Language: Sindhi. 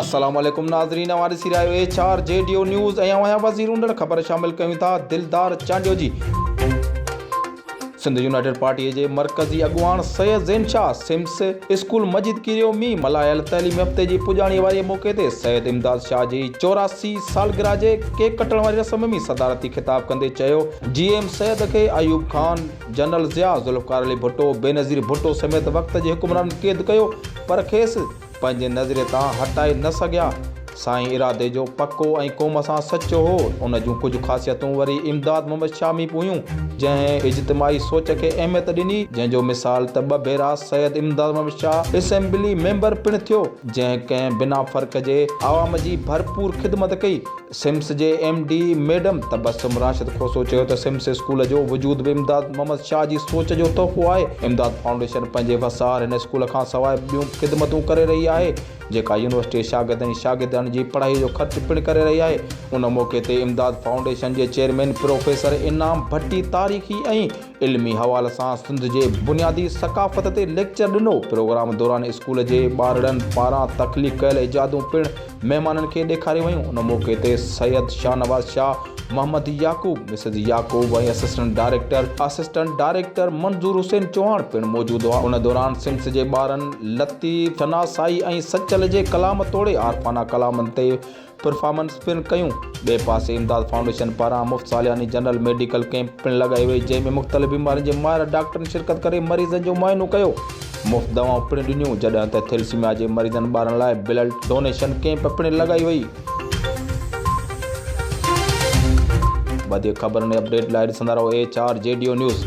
السلام عليڪم ناظرين اوهان ڏسي رهيا آهيو H R G Dev news ۽ اوهان وزير اوندڙ خبر شامل ڪيون ٿا دلدار چانڊيو جي سنڌ يونائيٽيڊ پارٽي جي مرڪزي اڳواڻ سيد زين شاھ سمس اسڪول مسجد ڪيريو ۾ ملهايل تعليمي هفتي جي پڄاڻي واري موقعي تي سيد امداد شاھ جي چوراسي سالگرهه جي ڪيڪ ڪٽڻ واري رسم ۾ صدارتي خطاب ڪندي چيو جي ايم سيد کي ايوب خان جنرل ضياء ذوالفقار علي ڀٽو، بينظير ڀٽو سميت وقت جي حڪمرانن قيد ڪيو پر کيس پنهنجي نظريي تان هٽائي نه سگهيا. سائين ارادي جو پڪو ۽ قوم سان سچو هو. ان جون ڪجهه خاصيتون وري امداد محمد شاهه ۾ به هيون، جنهن اجتماعي سوچ کي اهميت ڏني، جنهن جو مثال ته ٻه ڀيرا سيد امداد محمد شاهه اسيمبلي ميمبر پڻ ٿيو، جنهن ڪنهن بنا فرق جي عوام جي ڀرپور خدمت ڪئي. سمس جي M D madam Tabassum Rashid Khoso چيو ته سمس اسڪول جو وجود به امداد محمد شاهه جي سوچ جو تحفو آهي، امداد فائونڊيشن پنهنجي وسار هن اسڪول کان سواء ٻيون خدمتون ڪري رهي آهي، جيڪا يونيورسٽي جي شاگردن ۽ شاگردياڻين جي پڙهائي جو خرچ پڻ ڪري رهي آهي، ان موقعي تي امداد فائونڊيشن جي چيئرمين پروفيسر انعام ڀٽي تاريخي ۽ علمي حوالي سان سنڌ جي بنيادي ثقافت تي ليڪچر ڏنو. پروگرام دوران اسڪول جي ٻارڙن پاران تخليق ڪيل ايجادون پڻ مهمانن کي ڏيکاريون ويون. ان موقعي تي Syed Shahnawaz Shah, Muhammad Yaqoob, Mrs Yaqoob ۽ assistant director assistant director Manzoor Hussain Chauhan پڻ موجود هئا. ان دوران سمس جي ٻارن لطيف، ثناسائي ۽ سچل جي ڪلام توڙي عارفانه ڪلامن تي پرفارمنس پڻ ڪيون. ٻئي پاسي امداد فائونڊيشن پاران مفت سالياني جنرل ميڊيڪل ڪئمپ پڻ لڳائي وئي جنهن ۾ مختلف بيمارين جي ماهر ڊاڪٽرن شرڪت ڪري مريضن جو معائنو ڪيو مفت دوائون پڻ ڏنيون جڏهن ته ٿيلسيميا جي مريضن ٻارن لاء بلڊ ڊونيشن ڪئمپ پڻ لڳائي وئي. وڌيڪ خبرن ۽ اپڊيٽ لاء ڏسندا رهو H R G Dev news.